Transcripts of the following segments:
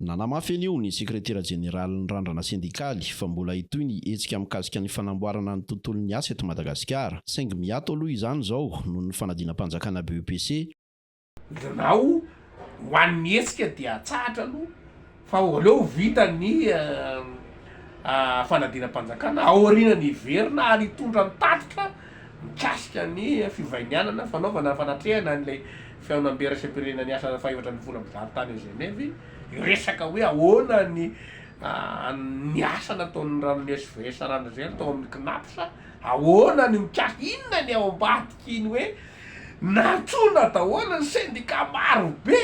Nanamafy anio ny sekretera jeneralin'ny Randrana sendikaly fa mbola hitohy ny hetsika mikasika ny fanamboarana ny tontolon'ny asa eto Madagasikara, saingy miato aloha izany izao noho ny fanadinam-panjakana BEPC. Birao ho an'ny hetsika dia hatsahatra aloha Fa aleo ho vita ny fanadinam-panjakana aoriana ny hiverina ary hitondra ny tatitra mikasika ny fivahinianana fanaovana fanatrehana an'ilay fihaonambe iraisam-pirenena niasa fahefatra ambin'ny folo amin'ny valo tany Geneve hiresaka hoe ahoana ny ny asa nataon'ny ranon'ny SVS Ranazelo tao amin'ny Cnaps, ahoana ny mikasika, inona ny ao ambadik'iny hoe nantsoina daholo ny sendika marobe.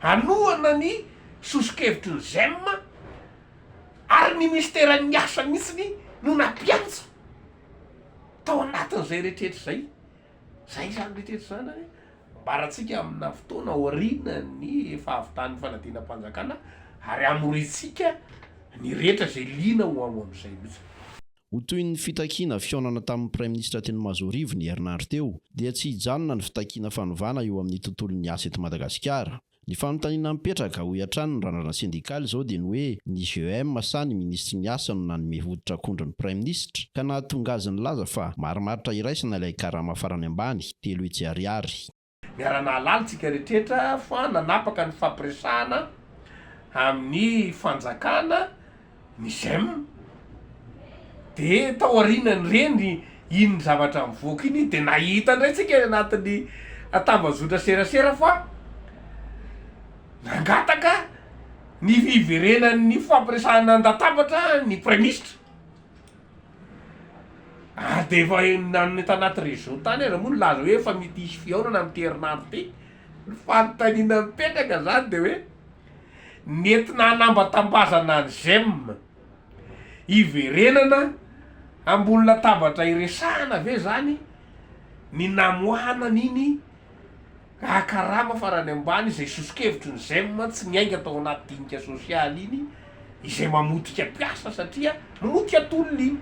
hanohana ny soso-kevitry ny Zem ary ny minisiteran'ny asa mihitsy no nampiantsa tao anatin'izay rehetrarehetra izay. Izay izany rehetrarehetra izany ary ambaratsika amina fotoana aorianan'ny fahavitan'ny fanadinam-panjakana ary hamoriantsika ny rehetra izay liana ho ao amin'izay mihitsy. Ho toy ny fitakiana fihaonana tamin'ny Praiminisitra teny Mazoarivo ny herinandro teo, dia tsy hijanona ny fitakiana fanovana eo amin'ny tontolon'ny asa eto Madagasikara. Ny fanontaniana mipetraka, hoy hatrany ny randrana sendikaly izao dia ny hoe ny GEM sa ny Minisitry ny Asa no nanome hoditr'akondro ny Praiminisitra ka nahatonga azy nilaza fa marimaritra iraisana ilay karama farany ambany, telo hetsy ariary. Miara-nahalala tsika rehetra fa nanapaka ny fifampiresahana amin'ny fanjakana ny Zem. Dia tao aorianan'ireny, iny zavatra nivoaka iny dia nahita indray tsika any anatin'ny tambazotra serasera fa nangataka ny hiverenan'ny fifampiresahana an-databatra ny Praiminisitra. Ary dia efa enina eto anaty réseau tany aza moa nilaza hoe efa mety hisy fihaonana amin'ity herinandro ity. Ny fanontaniana mipetraka izany dia hoe nentina hanambatambazana an'i Zem hiverenana ambony latabatra hiresahana ve izany ny namoahana an'iny Hahakarama farany ambany izay soso-kevitry ny Zem tsy miainga tao anaty dinika sosialy iny izay mamotika mpiasa satria mamotika tolona iny.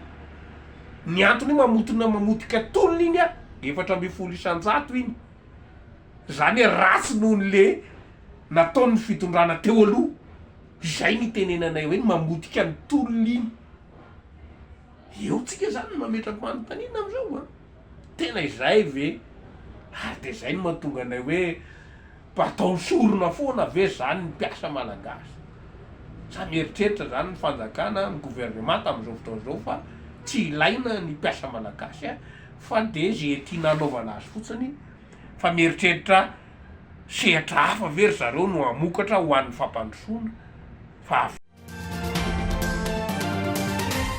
Ny antony mamotina mamotika tolona iny a, efatra ambin'ny folo isan-jato iny. Izany hoe ratsy noho ny le nataon'ny fitondrana teo aloha. Izay no itenenanay hoe ny mamotika ny tolona iny. Eo tsika izany no mametra-panontaniana amin'izao a. Tena izay ve? Ary dia izay no mahatonga anay hoe mba ataony sorona foana ve izany ny mpiasa malagasy? Sa mieritreritra izany ny fanjakana, ny governemanta amin'izao fotoana izao fa tsy ilaina ny mpiasa malagasy fa dia ze tiana anaovana azy fotsiny fa mieritreritra sehatra hafa ve ry zareo no hamokatra ho an'ny fampandrosoana fa avy